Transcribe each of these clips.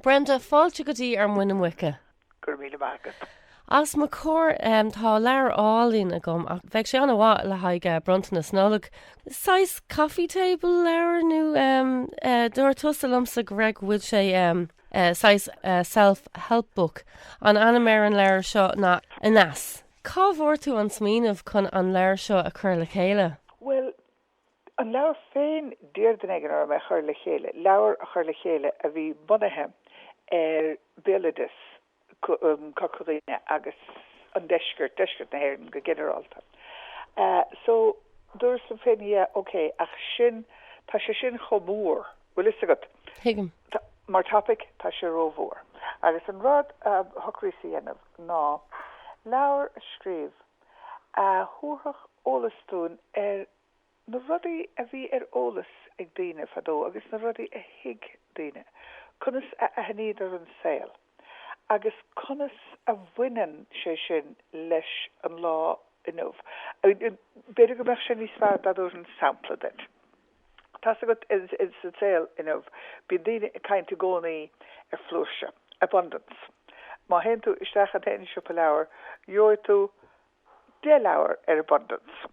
Brenda, fáilte go dtí Ar Mhuin na Muice. Go raibh míle maith agat. Os mo chomhair tá leabhar álainn agam ach bheadh sé an-mhaith le haghaidh eh, bronntanas Nollag. Saghas coffee table leabhar nó eh, dúirt tusa liomsa go raibh go bhfuil sé eh, saghas self-help book. An t-ainm ar an leabhar seo ná Aneas. Cá bhfuair tú an smaoineamh chun an leabhar seo a chur le chéile? Bhuel, An leabhar féin, d'iarr duine éigin orm é a chur le chéile, leabhar a chur le chéile a bhí bunaithe ar bhéaloideas Chorca Dhuibhne agus an deisceart, deisceart na hÉireann go ginearálta. So, dúras liom féin, yeah, ok, ach sin, tá sé sin chomh mór, bhfuil fhios agat. Tuigim. Mar topic, tá sé rómhór. Agus an rud a shocraíos a dhéanamh ná leabhar a scríobh a thabharfadh eolas dúinn ar na rudaí a bhí ar eolas ag daoine fadó agus na rudaí a thuig daoine, conas a aithníodar an saol agus conas a bhaineann sé sin leis an lá inniu. B'fhéidir go mbeadh sé níos fearr dá dtabharfainn sampla duit. Tá's agat, sa tsaol inniu, bíonn daoine ag caint i gcónaí ar flúirse, abundance. Má théann tú isteach in aon siopa leabhar, gheobhaidh tú deich leabhar ar abundance,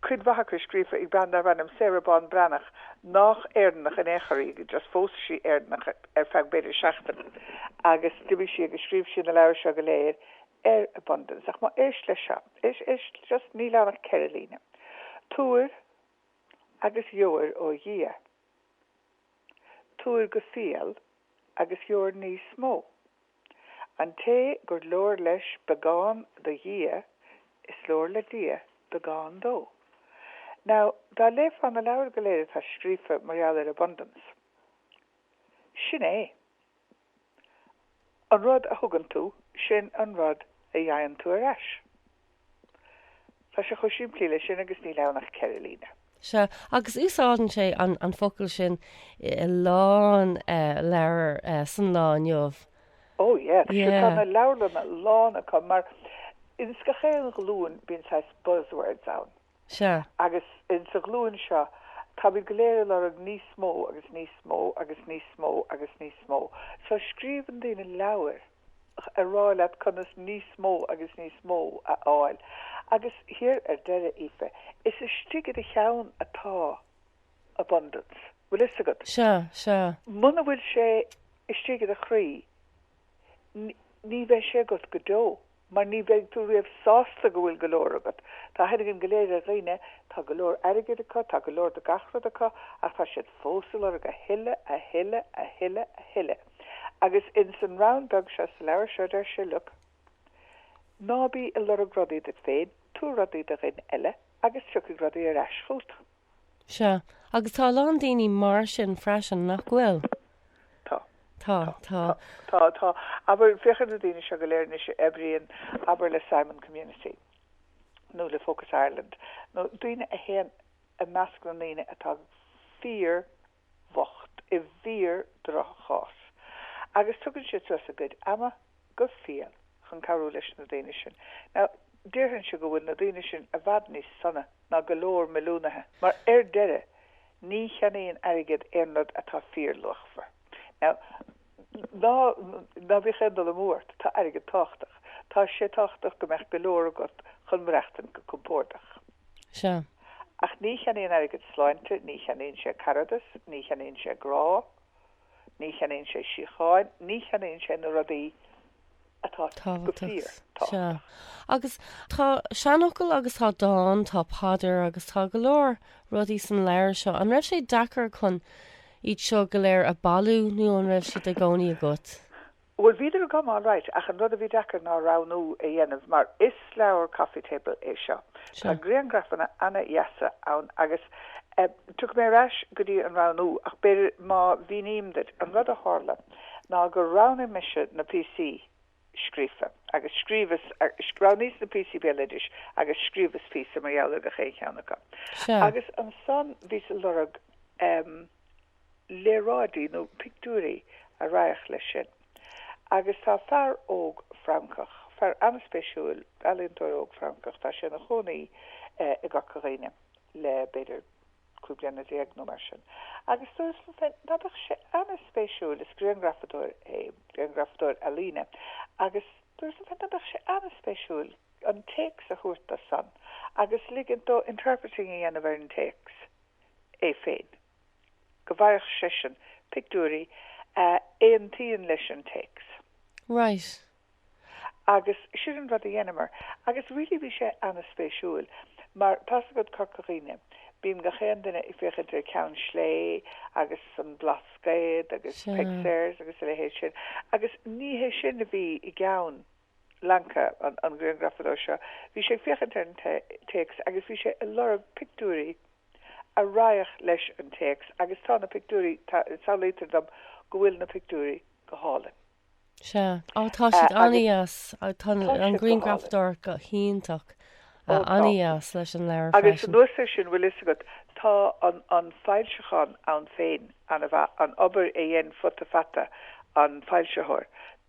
cuid mhaith acu scríofa ag bean darb ainm Sarah Ban Breathnach, nách Éireannach in aon chor í, just phós sí Éireannach ar feadh b'fhéidir seachtain agus d'imigh sí agus scríobh sí na leabhair seo go léir ar 'abundance', ach má éist leis seo, éist just níl ann ach ceithre líne, Tabhair agus gheobhair ó Dhia, tabhair go fial agus gheobhair níos mó. An té gur leor leis beagán do Dhia, is leor le Dia beagán dó. Now, dá léifeá na leabhair go léir atá scríofa mar gheall ar 'abundance', sin é. An rud a thugann tú, sin an rud a fhaigheann tú ar ais. Tá sé chomh simplí leis sin agus níl ann ach ceithre líne. Sea, agus úsáideann sé an focal sin in a lán leabhar san lá inniu. Ó, yea. Sea, tá na leabharlanna lán acu mar, ins gach aon ghlúin, bíonn saghas buzzwords ann. Sea. Agus insa ghlúin seo, táimid go léir a lorg níos mó agus níos mó agus níos mó agus níos mó. So, scríobhann daoine leabhair a rá leat conas níos mó agus níos mó a fháil. Agus thiar ar deireadh, Aoife, is istigh i do cheann atá abundance, bhfuil 'fhios agat. Sea, sea. Muna bhfuil sé istigh i do chroí, ní bheidh sé agat go deo. mar ní bheidh tú riamh sásta go bhfuil go leor agat. Tá a fhios againn go léir daoine, tá go leor airgid acu, tá go leor de gach rud acu, ach tá siad fós a lorg a thuilleadh, a thuilleadh, a thuilleadh, a thuilleadh. Agus ins an rann beag seo sa leabhar seo deir sé, look, ná bí a lorg rudaí duit féin, tabhair rudaí do dhuine eile agus tiocfaidh rudaí ar ais chughat. Sea. Agus tá a lán daoine mar sin freisin, nach bhfuil? Tá. Tá. Tá. Tá. Tá. Abair, féach ar na daoine seo go léir anois a oibríonn, abair, le Simon Community nó le Focus Ireland, nó daoine a théann i measc na ndaoine atá fíor, bhocht i bhfíor-dhroch-chás, agus tugann siad suas a gcuid ama go fial chun cabhrú leis na daoine sin. Now, déarfainnse go bhfuil na daoine sin i bhfad níos sona ná go leor milliúnaithe, mar ar deireadh, ní cheannaíonn airgead aon rud atá fíor-luachmhar. Now. Ná bíodh aon dul amú ort, tá airgead tábhachtach. Tá sé tábhachtach go mbeadh go leor agat chun maireachtain go compórdach. Sea. Ach ní cheannaíonn airgead sláinte, ní cheannaíonn sé caradas, ní cheannaíonn sé grá, ní cheannaíonn sé síocháin, ní cheannaíonn sé na rudaí atá tábhachtach, sea. Agus tá seanfhocal agus tá dán, tá paidir agus tá go leor rudaí sa leabhar seo. An raibh sé deacair chun iad seo go léir a bhailiú nó an raibh siad i gcónaí agat? Bhuel, bhíodar agam alright ach an rud a bhí deacair ná roghnú a dhéanamh mar is leabhar coffee table é seo. Tá griangrafanna ana-dheasa ann agus tiocfaidh mé ar ais go dtí an roghnú ach b'fhéidir má mhíním duit an rud a tharla, ná gur roghnaigh mise na píosaí scríofa agus scríobhas, roghnaíos na píosaí béaloidis agus scríobhas píosa mar gheall ar gach aon cheann acu. Sea. Agus ansan bhíos a lorg léaráidí nó pictiúirí a raghadh leis sin. Agus tá fear óg Francach, fear ana-spéisiúil, ealaíontóir óg Francach, tá sé ina chónaí i gCorca Dhuibhne le b'fhéidir, cúig bliana déag nó mar sin, agus dúrt liom féin ná beadh sé ana-spéisiúil, is grianghrafadóir é, grianghrafadóir ealaíne, agus dúrt liom féin ná beadh sé ana-spéisiúil an téacs a thabhairt dó san agus ligint dó interpreting a dhéanamh ar an téacs é féin, go bhfaigheadh seisean pictiúirí a aontaíonn leis an téacs. Right. Agus sin an rud a dheineamar. Agus really bhí sé ana-spéisiúil. Mar tá's agat Corca Dhuibhne, bíonn gach aon duine ag féachaint ar Cheann Slé agus an Blascaod agus Peig Sayers agus a leithéid sin. Agus ní hé sin a bhí i gceann Lanca, an griangrafadóir seo. Bhí sé ag féachaint ar an téacs agus bhí sé ag lorg pictiúirí a raghadh leis an téacs agus tá na pictiúirí, taibhsítear dom go bhfuil na pictiúirí go hálainn. Sea. Á, tá siad an-dheas. Tá an ghrianghrafadóireacht go hiontach. An-dheas leis an leabhar. Agus anuas air sin, bhfuil fhios agat, tá an foilseachán ann féin, an obair a dhein Futa Fata, an foilsitheoir,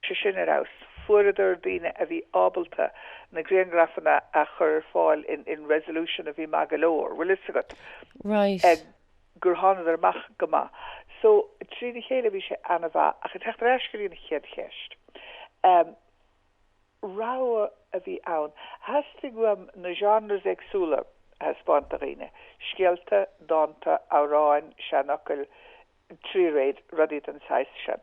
tá sé sin ar fheabhas. Fuaireadar daoine a bhí ábalta na grianghrafanna a chur ar fáil in resolution a bhí maith go leor, bhfuil fhios agat. Right. gur thánadar amach go maith. So, trína chéile bhí sé an-mhaith. Ach ag teacht ar ais go dtí an chéad cheist, ehm, rogha a bhí ann. Theastaigh uaim na genres éagsúla a thaispeáint do dhaoine, scéalta, dánta, amhráin, seanfhocail, tréanna, rudaí den saghas sin.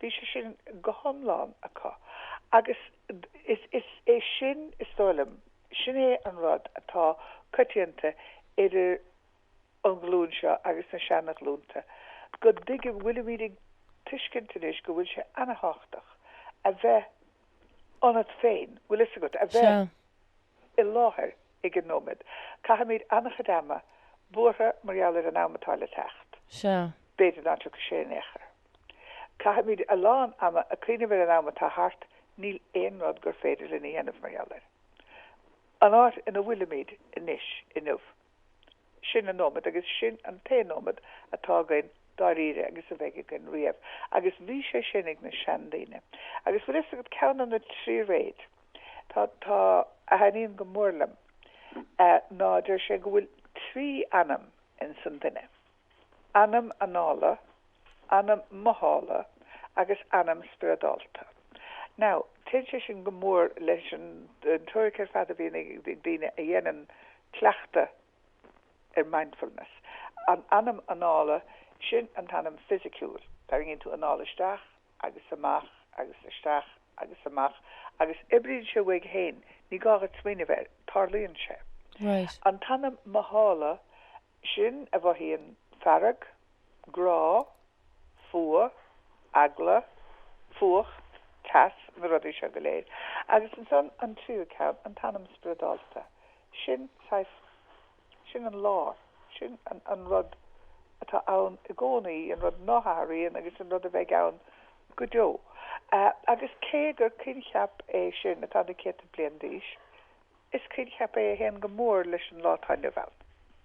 Bhí sé sin go hiomlán acu agus is é sin, is dóigh liom, sin é an rud atá coitianta idir an ghlúin seo agus na seana-ghlúnta, go dtuig-, go bhfuilimid ag tuiscint anois go bhfuil sé ana-thábhachtach a bheith ionat féin, bhfuil 'fhios agat, a bheith i láthair ag an nóiméad. Caithimid ana-chuid ama buartha mar gheall ar an am atá le teacht, b'fhéidir ná tiocfaidh sé in aon chor. Caithimid a lán ama ag cuimhneamh ar an am atá thart, níl aon rud gur féidir linn a dhéanamh mar gheall air. An áit ina bhfuilimid anois, inniu, sin an nóiméad agus sin an t-aon nóiméad atá againn dáiríre agus a bheidh againn riamh agus bhí sé sin ag na seandaoine. Agus bhfuil a fhios agat, ceann de na tréanna atá, a thaitníonn go mór liom ná, deir sé go bhfuil trí anam insan duine. anam anála, anam mothála agus anam spioradálta. Now, téann sé sin go mór leis an teoiric ar fad a bhíonn ag daoine a dhéanann cleachtadh ar Mindfulness. An t-anam anála, sin an t-anam fisiciúil. Tarraingíonn tú anáil isteach agus amach agus isteach agus amach agus oibríonn sé uaidh féin, ní gá dhuit smaoineamh air, tarlaíonn sé. Right. An t-anam mothála, sin a mhothaíonn fearg, grá, fuath, eagla, fuacht, teas, na rudaí seo go léir. Agus ansan an tríú ceann, an t-anam spioradálta. Sin saghas, sin an lár, sin an rud atá ann i gcónaí, an rud ná hathraíonn agus an rud a bheidh ann go deo. Agus cé gur coincheap é sin atá na céadta bliain d'aois, Is coincheap é a théann go mór leis an lá atá inniu ann.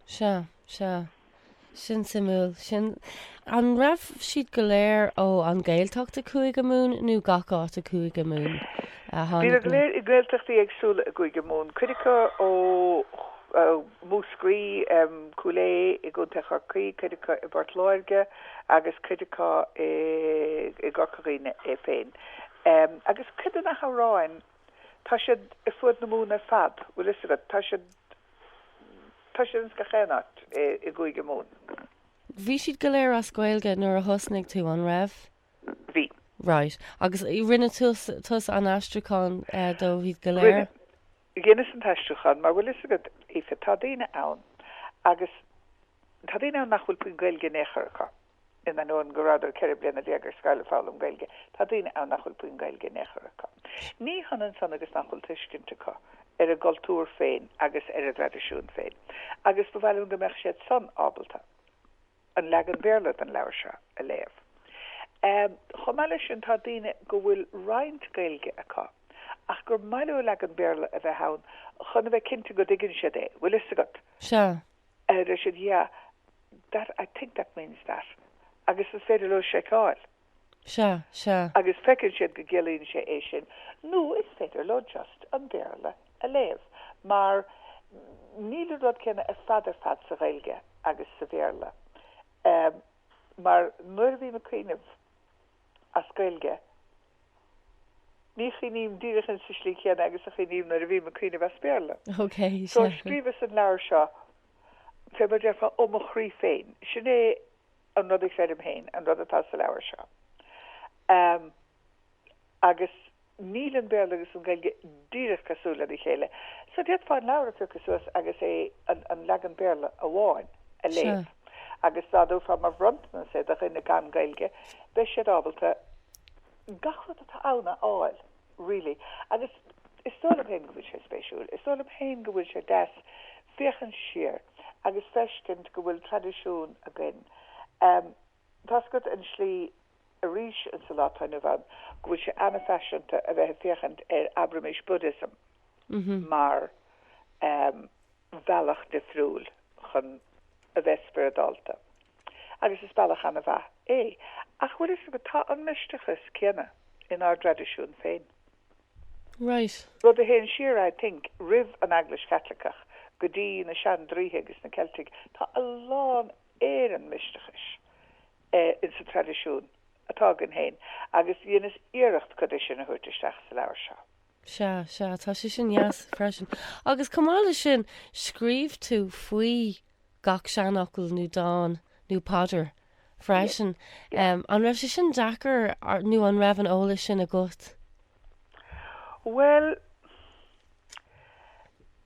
Sea, sea. Sin suimiúil. Sin. An raibh siad go léir ó An Gaeltacht i Cúige Mumhan nó gach áit i Cúige Mumhan a tháinig na? Bhíodar go léir i nGaeltachtaí éagsúla i gCúige Mumhan, cuid acu ó Mhúscraí, Cúil Aodh i gContae Chorcaí, cuid acu i bPort Láirge agus cuid acu i gCorca Dhuibhne é féin. Agus cuid de na hamhráin, Tá siad ar fuaid na Mumhan ar fad, bhfuil fhios agat. Tá siad, tá siad ins gach aon áit i gCúige Mumhan. Bhí siad go léir as Gaeilge nuair a thosnaigh tú, an raibh? Bhí. Right. Agus rinne tusa an aistriúchán dóibh iad go léir? Rinne. Dheineas an t-aistriúchán mar, bhfuil fhios agat, Aoife, tá daoine ann agus, tá daoine ann nach bhfuil puinn Gaeilge in aon chor acu. In ainneoin go rabhadar ceithre bliana déag ar scoil ag foghlaim Gaeilge, tá daoine ann nach bhfuil puinn Gaeilge in aon chor acu. Ní hionann san agus nach bhfuil tuiscint acu ar a gcultúr féin agus ar a dtraidisiúin féin, agus ba mhaith liom go mbeadh siad san ábalta an leagan Béarla don leabhar seo a léamh. Chomh maith leis sin, tá daoine go bhfuil roinnt Gaeilge acu, ach gur maith leo leagan Béarla a bheith ann chun a bheith cinnte go dtuigeann siad é, bhfuil fhios agat. Sea, Deir siad, Yeah, that, I think that means that. Agus is féidir leo seiceáil. Sea, sea. Agus feiceann siad go gciallaíonn sé é sin. Nó is féidir leo just an Béarla a léamh. Mar níl an rud céanna ar fad ar fad sa Ghaeilge agus sa Bhéarla. Mar nuair a bhím ag cuimhneamh. as Gaeilge. Ní chuimhním díreach ins sa slí chéanna agus a chuimhním nuair a bhím ag cuimhneamh as Béarla. So scríobhas an leabhar seo, fé mar a déarfá, ó mo chroí féin. Sin é an rud a chreidim féin, an rud atá sa leabhar seo. Agus Níl an Béarla agus an Ghaeilge díreach cosúil lena chéile, so d'fhéadfá an leabhar a phiocadh suas agus é, an leagan Béarla amháin, a léamh. Agus dá dtabharfá mar bhronntanas é do dhuine gan Gaeilge, beidh siad ábalta gach rud atá ann a fháil, really. Agus is dóigh liom féin go bhfuil sé spéisiúil. Is dóigh liom féin go bhfuil sé deas féachaint siar agus feiscint go bhfuil traidisiún againn. Tá's agat an tslí arís insa lá atá inniu ann go bhfuil sé ana-fhaiseanta a bheith ag féachaint ar, abraimis, Buddhism mar bhealach difriúil chun a bheith spioradálta. Agus is bealach ana-mhaith é. Ach bhfuil fhios agat, tá an misteachas céanna inár dtraidisiún féin. Right. Rud a théann siar, I think, roimh an Eaglais Chaitliceach go dtí na sean-draoithe agus na Ceiltigh, tá a lán ar an misteachas ins an traidisiún atá againn féin agus dheineas iarracht cuid de sin a thabhairt isteach sa leabhar seo. Sea, sea, tá sé sin an-dheas freisin. Agus chomh maith leis sin, scríobh tú faoi gach seanfhocal nó dán nó paidir freisin. An raibh sé sin deacair nó an raibh an t-eolas sin agat? Bhuel.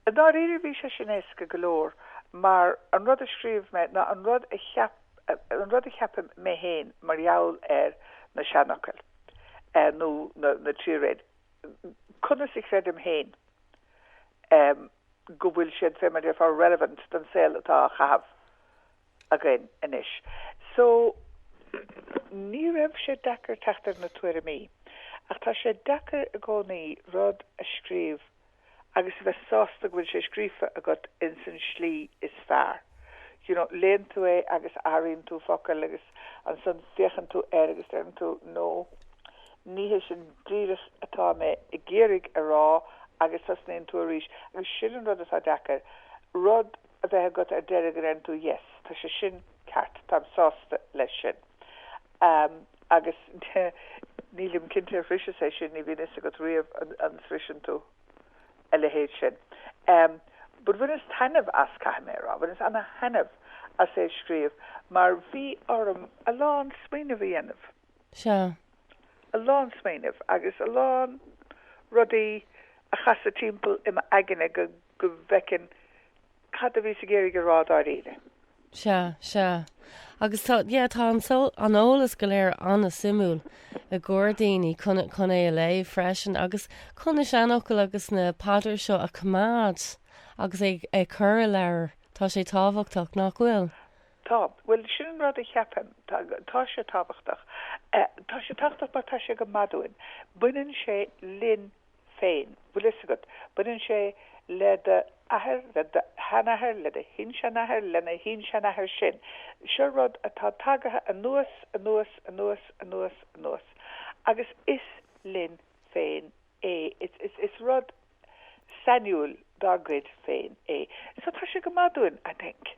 I ndáiríre bhí sé sin éasca go leor mar an rud a scríobh mé ná an rud a cheap, an rud a cheapaim mé féin mar gheall ar na seanfhocail nó na tréanna, conas a chreidim féin go bhfuil siad, fé mar a déarfá, relevant don saol atá á chaitheamh againn anois so ní raibh sé deacair teacht ar na tuairimí ach tá sé deacair i gcónaí rud a scríobh agus a bheith sásta go bhfuil sé scríofa agat ins an tslí is fearr. You know, léann tú é agus athraíonn tú focal agus ansan féachann tú air agus deireann tú no, ní hé sin díreach atá mé ag iarraidh a rá agus tosnaíonn tú arís agus sin an rud atá deacair, rud. a bheith agat ar deireadh go ndeireann tú yes, tá sé sin ceart, táim sásta leis sin. Agus nílim cinnte ar shroiseas-sa é sin, ní bhíonn a fhios agat riamh an sroiseann tú a leithéid sin. But bhaineas taitneamh as, caithfidh mé a rá, bhaineas ana-thaitneamh as é a scríobh mar bhí orm a lán smaoineamh a dhéanamh. Sea. A lán smaoineamh agus a lán rudaí a chasadh timpeall i m'aigne go. go bhfeicinn cad a bhíos ag iarraidh a rá dáiríre. Sea, sea. Agus tá, yeah, tá an, an eolas go léir an-suimiúil i gcomhair daoine chun, chun é a léamh freisin agus chun na seanfhocail agus na paidreacha seo a choimeád agus ag, ag cur i leabhar. Tá sé tábhachtach, nach bhfuil? Tá. Bhuel, sin an rud a cheapaim. Tá, tá sé tábhachtach. Tá sé tábhachtach mar tá sé go maith dúinn. Baineann sé linn. féin. Bhfuil fhios agat, baineann sé le do athair, le do sheanathair, le do shin-seanathair, lena shin-seanathair sin. Seo rud atá tagaithe anuas, anuas, anuas, anuas, anuas. Agus is linn féin é. Is rud sainiúil dár gcuid féin é. So tá sé go maith dúinn, I think.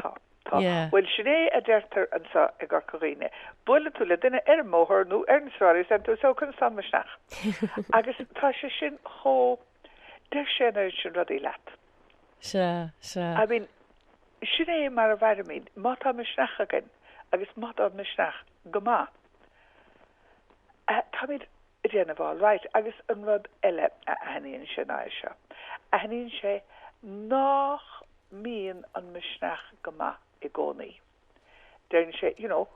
Tá, tá. Bhuel, sin é a deirtear anseo i gCorca Dhuibhne. Buaileann tú le duine ar an mbóthar nó ar na sráideanna agus deireann tú, So, conas tá an misneach? Agus tá sé sin chomh, deir sé an oiread sin rudaí leat. Sea, sea. I mean, sin é mar a mhairimid. Má tá misneach againn agus má tá an misneach go maith, táimid ag déanamh alright. Agus an rud eile a aithníonn sé ná é seo, aithníonn sé nách mbíonn an misneach go maith i gcónaí. Deireann sé, you know,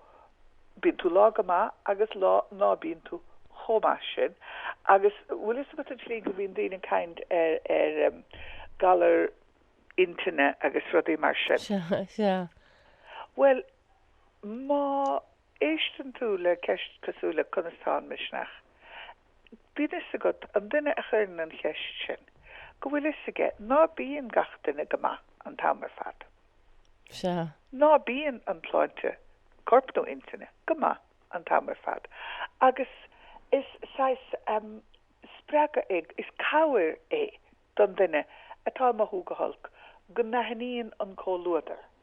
bíonn tú lá go maith agus lá ná bíonn tú chomh maith sin agus bhfuil fhios agat an tslí go mbíonn daoine ag caint ar, ar em, galar intinne agus rudaí mar sin. Sea. Bhuel, má. Éisteann tú le ceist cosúil le 'Conas tá an misneach? Bíonn 'fhios agat, an duine a chuireann an cheist sin, go bhfuil 'fhios aige. Ná bíonn gach duine go maith an t-am ar fad? Sea. Ná bíonn an tsláinte, coirp nó intinne, go maith an t-am ar fad? Agus is saghas spreagadh é, is cabhair é don duine atá ag mothú go holc, go n-aithníonn an comhluadar,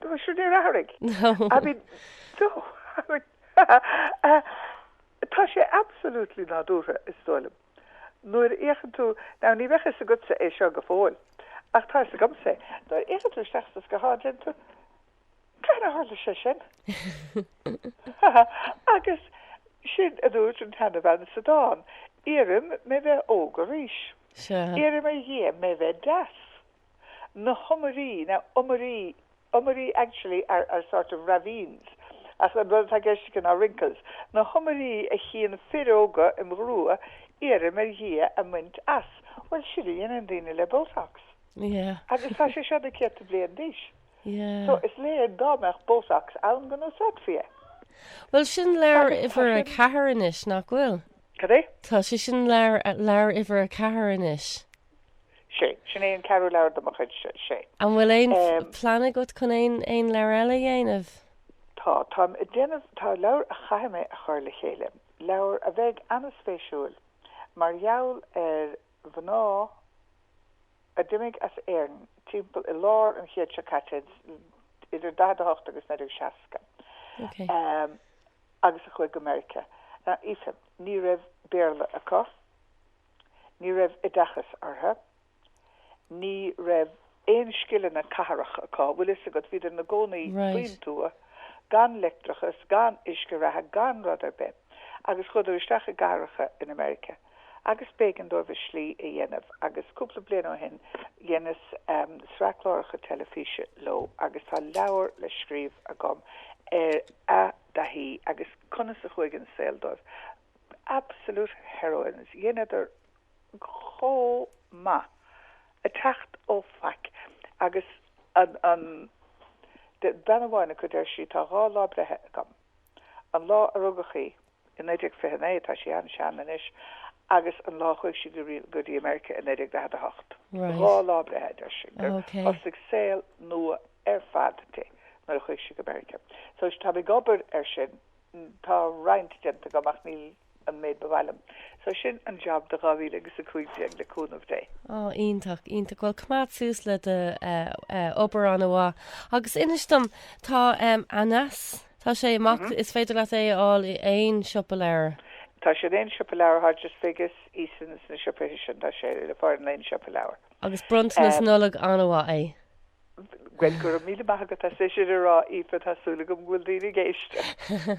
Tá sin níor athraigh. I mean, so, I mean, tá sé absolutely nádúrtha, is dóigh liom. Nuair a fhéachann tú, now ní bheadh fhios agatsa é seo go fóill, ach tá fhios agamsa é, nuair a fhéachann tú isteach sa scathán déanann tú, cad a tharla ansin? Agus sin a dúirt an tseanbhean sa dán, iarraim mé bheith óg arís. Iarraim ar Dhia mé bheith deas. na hiomairí, now iomairí, iomairí actually are are sort of ravines ach an rud atá i gceist aici ná wrinkles, na hiomairí a chíonn fir óga im ghrua iarraim ar Dhia a mbaint as. Bhuel sin a dhéanann daoine le botox. Yeah. Agus tá sé seo na céadta bliain d'aois. Yeah. So is léir dá mbeadh botox ann go n-úsáidfí é. Bhuel sin leabhar uimhir a ceathair anois, nach bhfuil? Cad é? Tá sé sin leabhar uimhir a ceathair anois. sea. Sin é an ceathrú leabhar de mo chuid, sea. An bhfuil aon plean agat chun aon leabhar eile a dhéanamh? Tá. Táim ag déanamh, tá leabhar a chaithfidh mé a chur le chéile, leabhar a bheidh an-spéisiúil mar gheall ar mhná a d'imigh as Éirinn timpeall i lár an chéid seo caite, idir 1948 agus 1960, agus a chuaigh go Meiriceá. Now Aoife, ní raibh Béarla acu. Ní raibh oideachas orthu. Ní raibh aon scileanna cathrach acu. Bhfuil fhios agat, bhíodar ina gcónaí faoin tuath, gan leictreachas, gan uisce reatha, gan rud ar bith. Agus chuadar isteach i gcathracha in America. Agus b'éigean dóibh a slí a dhéanamh. Agus cúpla bliain ó shin, dheineas sraith cláracha teilifíse leo agus tá leabhar le scríobh agam ar a dtaithí agus conas a chuaigh an saol dóibh. absolute heroines, dheineadar chomh maith ag teacht ó faic agus an, an, bean amháin acu, deir sí, tá dhá lá breithe agam, an lá a rugadh í, i 1929, tá sí an-sean anois, agus an lá a chuaigh sí go, go dtí America i 1948. Dhá lá breithe, a deir sí, gur thosaigh saol nua ar fad di nuair a chuaigh sí go Meiriceá. So tá mé ag obair air sin. tá roinnt déanta agam ach níl an méid ba mhaith liom. So sin an jab do 2015 le cúnamh Dé. Ó, iontach, iontach. Bhuel, coimeád suas led obair an-mhaith. Agus inis dom, tá Aneas, tá sé amach, is féidir leat é a fháil i aon siopa leabhar? Tá sé in aon siopa leabhar, Hodges Figgis, Easons, na siopaithe sin, tá sé le fáil in aon siopa leabhar. Agus bronntanas Nollag an-mhaith é. Bhuel, go raibh míle maith agat as é sin a rá, Aoife, tá súil agam go bhfuil daoine ag éisteacht!